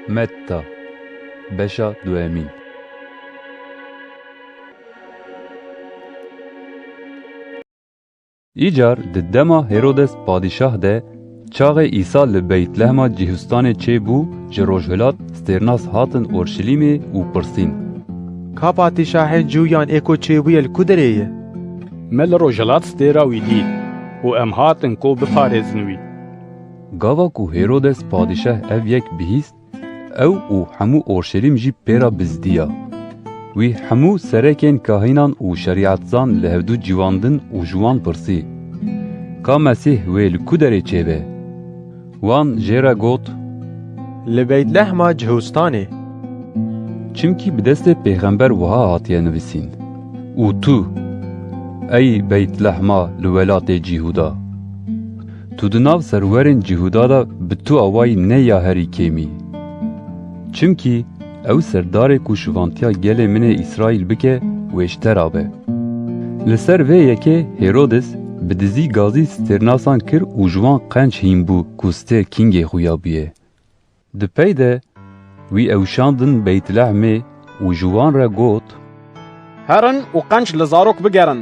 Metta, beşa duemîn. Îcar di dema Hêrodes padîşah de çaxê Îsa li Beytlehema Cîhûstanê çêbû ji rojhilat stêrnas hatin Orşilîmê û pirsîn. Ka patîşahên cû yan ê ku çêbûye li ku derê ye? Me li rojhilat stêra wî dît û em hatin ku biparêzin wî. Gava ku Hêrodes padîşah ev yek bihîst, ew û hemû Orşelîm jî pê re bizdiya. Wî hemû serekên kahînan û şerîetzan li hevdu civandin û ji wan pirsî, Ka Mesîh wê li ku derê çêbe? Wan jê re got, Li Beytlehma Cihustanê. Çimkî bi destê pêxember wiha hatiye nivîsîn, Û tu, ey Beytlehma li welatê Cîhuda! Tu di nav serwerên Cîhuda de bi tu awayî ne ya herî kêmî. Çimkî ew serdarê ku şivantiya gelê min ê Îsraîl bike wê ji te ra be. Li ser vê yekê Hêrodis bi dizî gazî stêrnasan kir û ji wan qenc hîn bû ku stêr kîngê xwe ya bûye. Di pey de wî ewşandin Beytlehmê û ji wan re got. Herin û qenc li zarok bigerin.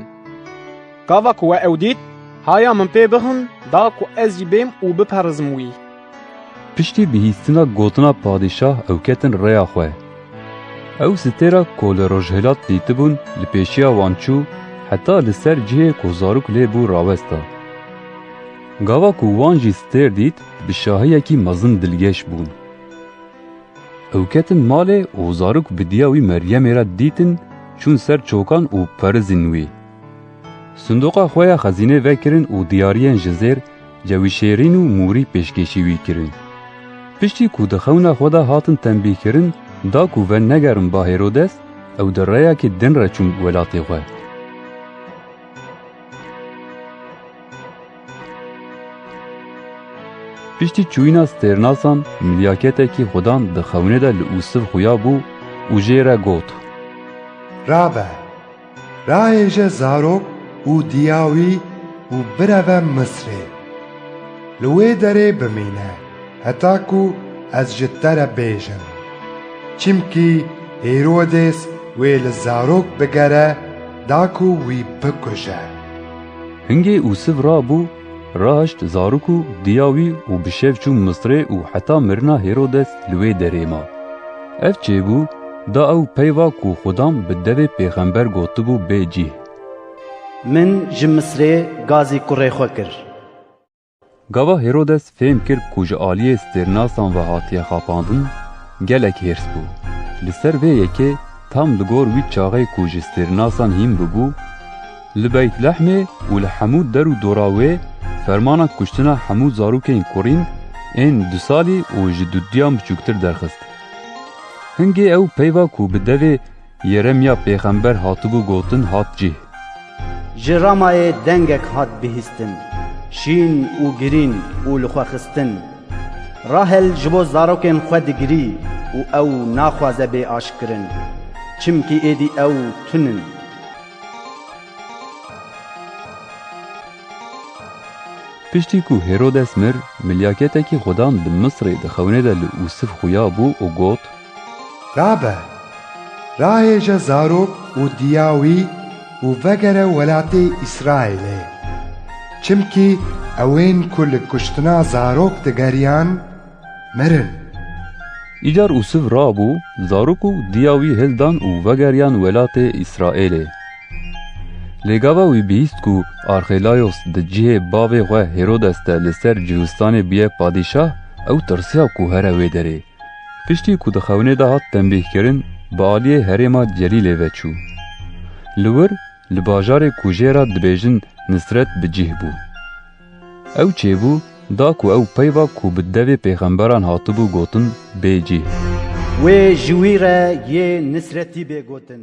Gava ku we ew dît, haya min pê bixin da ku ez jî bêm û biperizim wî. Piştî bihîstina gotina padîşah ew ketin rêya xwe. Ew stêra ku li rojhilat dîtibûn li pêşiya wan çû heta li ser cihê ku zarok lê bû rawesta. Gava ku wan jî stêr dît bi şahiyekî mezin dilgeş bûn. Ew ketin malê û zarok bi diya wî Meryemê re dîtin çûn ser çokan û perizîn wî. Sindoqa xwe ya xezînê vekirin û diyariyên ji zêr cewişêrîn û mûrî pêşkêşî wî kirin. Piştî ku di xewna xwe de hatin tenbîhkirin da ku venegerin ba Hêrodes, ew di reyekî din re çûn welatê xwe. Piştî çûyîna stêrnasan milyaketekî xwedan di xewnê de li Ûsiv xuya bû û jê re got. Rabe, raêje zarok û diya wî û bireve Misrê. Li wê derê bimîne heta ku ez ji te re bêjim. Çimkî Hêrodês wê li zarok bigere da ku wî bikuje. Hingê û siv rabû, raşt zarok û diya wî û bi şev çû Misirê û heta mirina Hêrodes li wê derê ma. Ev çêbû, da ew peyva ku Xwedam bi devê pêxember gotibû bê cîh. Min ji Misirê gazî kurê xwe kir. Gava Hîrodes fêm kir ku ji aliyê stêrnasan ve hatiye xapandin, gelek hêrs bû. Li ser vê yekê tam li gor wî çaxê ku ji stêrnasan hîn bûbû, li Beytlehmê û li hemû der û dora wê fermana kuştina hemû zarokên kurîn ên du salî û ji duduyan biçûktir derxist. Hingê ew peyva ku bi devê Yeremya pêxember hatibû gotin hat cih. Ji Ramayê dengek hat bihîstin, şîn û girîn û li xwe xistin. Rahel ji bo zarokên xwe digirî û ew naxwaze bê aşkirin, çimkî êdî ew tun in. Piştî ku Hêrodes mir, milyaketekî xudan di Misirê di xewnê de li Usif xuya bû û got, Rabe, rahêje zarok û diya wî û vegere welatê Îsraîlê. Çimkî ewên ku li kuştina zarok digeriyan, mirin. Îcar Ûsif rabû, zarok û diya wî hildan û vegeriyan welatê Îsraîlê. Lê gava wî bihîst ku Arxêlayos di cihê bavê xwe Hêrodes de li ser Cihûstanê bûye padîşah, ew tirsiya ku here wê derê. Piştî ku di xewnê de hat tembîhkirin bi aliyê herêma Celîlê ve çû. Li wir li bajarê ku jê re dibêjin Nisret bi cih bû. Ew çêbû da ku ew peyva ku bi devê pêxemberan hatibû gotin bê cih. Wê ji wî re yê Nisretî bê gotin.